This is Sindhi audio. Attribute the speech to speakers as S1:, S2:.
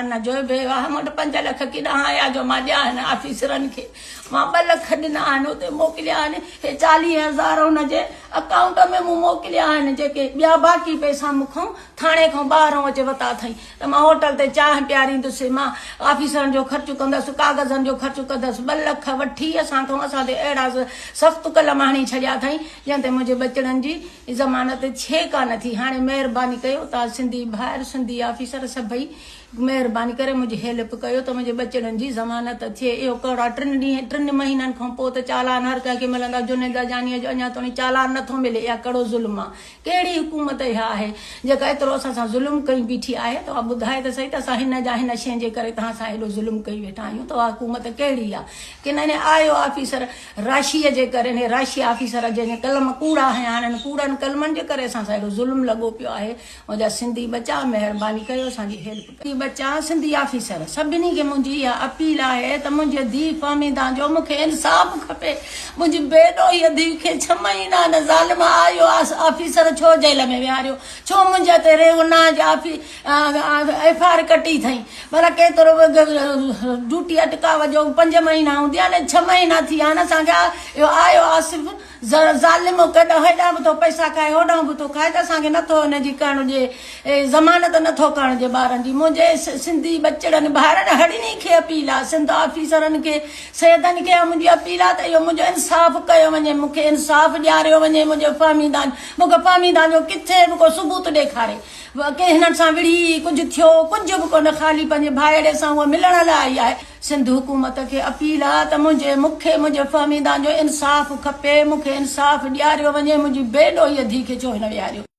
S1: ان جو به اها مون وٽ پنج لک ڪيڏانهن آيا جو مان ڏيان هن آفيسرن کي. مان ٻه لک ڏنا آهن اتي موڪليا آهن. هي چاليهه هزار هن جي اڪائونٽ ۾ مون موڪليا آهن جيڪي ٻيا باقي پئسا مون کان ٿاڻي کان ٻاهران اچي ورتا اٿئي ته مان هوٽل تي چانهه پياريندس مان آفيسرن جو خرچ ڪندس ڪاغذن جو خرچ ڪندس ٻه لک وٺي اسان کان اسان تي اهڙا سخت قلم هڻي ڇڏيا اٿئي جنهن تي منهنجي ٻچڙن جي زمانه تي ڇي ڪانه ٿي هاڻي مهرباني ڪيو تان سنڌي ڀائر سنڌي آفيسر سڀئي مهرباني ڪري منهنجي هيلپ ڪيو ته منهنجي ٻچڙن جي زمانت ٿئي اهو ڪهڙا ٽن ڏينهن ٽن مهينن کان پو ته چالان هر ڪنهن کي ملندا جنيد لاجاني جو اڃا توڻي چالان نه ٿو ملي اها ڪهڙو ظلم آ ڪهڙي حڪومت اها آهي جيڪا ايترو اسان سان ظلم ڪئي بيٺي آهي توهان ٻڌاي ته سهي ته اسان هن جا هن شين جي ڪري توهان سان هيڏو ظلم ڪئي ويٺا آهيون توهان حڪومت ڪهڙي آ ڪنهن آيو آفيسر راشيء جي ڪري اهي راشي آفيسر جن جا قلم ڪوڙا هيا هاڻي انهن ڪوڙن قلمن جي ڪري اسان سان اهڙو ظلم لڳو پيو آهي ان جا سنڌي ٻچا مهرباني ڪيو اسان جي هيلپ ڪيو. سنڌي ٻچا سنڌي آفيسر سڀني کي منهنجي اها اپيل آهي ته منهنجي ڌيء فهميده جو مون کي انصاف کپي منهنجي بي ڏوهي ڌيء کي ڇهه مهينا ان ظالم آء آء ايس آفيسر ڇو جيل ۾ ويهاريو ڇو منهنجي تي ريو ناج آفيسر ايف آء آر ڪٽي اٿئين ڀلا ڪيترو ڊيوٽي اٽڪاء جو پنج مهينا هوندي آ نه ڇهه مهينا ٿي ويا آهن اسان کي اهو آيو آصف ظالم ڪيڏا هيڏانهن به ٿو پئسا کائي هوڏانهن به ٿو کائي ته اسان کي نٿو ان جي ڪرڻ ڏي ضمانت نٿو ڪرڻ ڏي ٻارن جي منهنجي سنڌي ٻچڙن ڀائرن هڙني کي اپيل آ سنڌ آفيسرن کي سيدن کي اها منهنجي اپيل آ ته اهو منهنجو انصاف ڪيو وڃي مون کي انصاف ڏياريو وڃي منهنجو فهميدان مون کي فهميدان جو ڪٿي به ڪو ثبوت ڏيکاري واقعي هنن سان وڙهي ئي ڪجهه ٿيو، ڪجهه به ڪونه خالي پنهنجي ڀائيڙي سان هوء ملڻ لاء آئي آهي. سنڌ حڪومت کي اپيل آ ته منهنجي مون کي منهنجي فهميدان جو انصاف کپي، مون کي انصاف ڏياريو وڃي، منهنجي بي ڏوهيء ڌيء کي ڇو هن ويهاريو.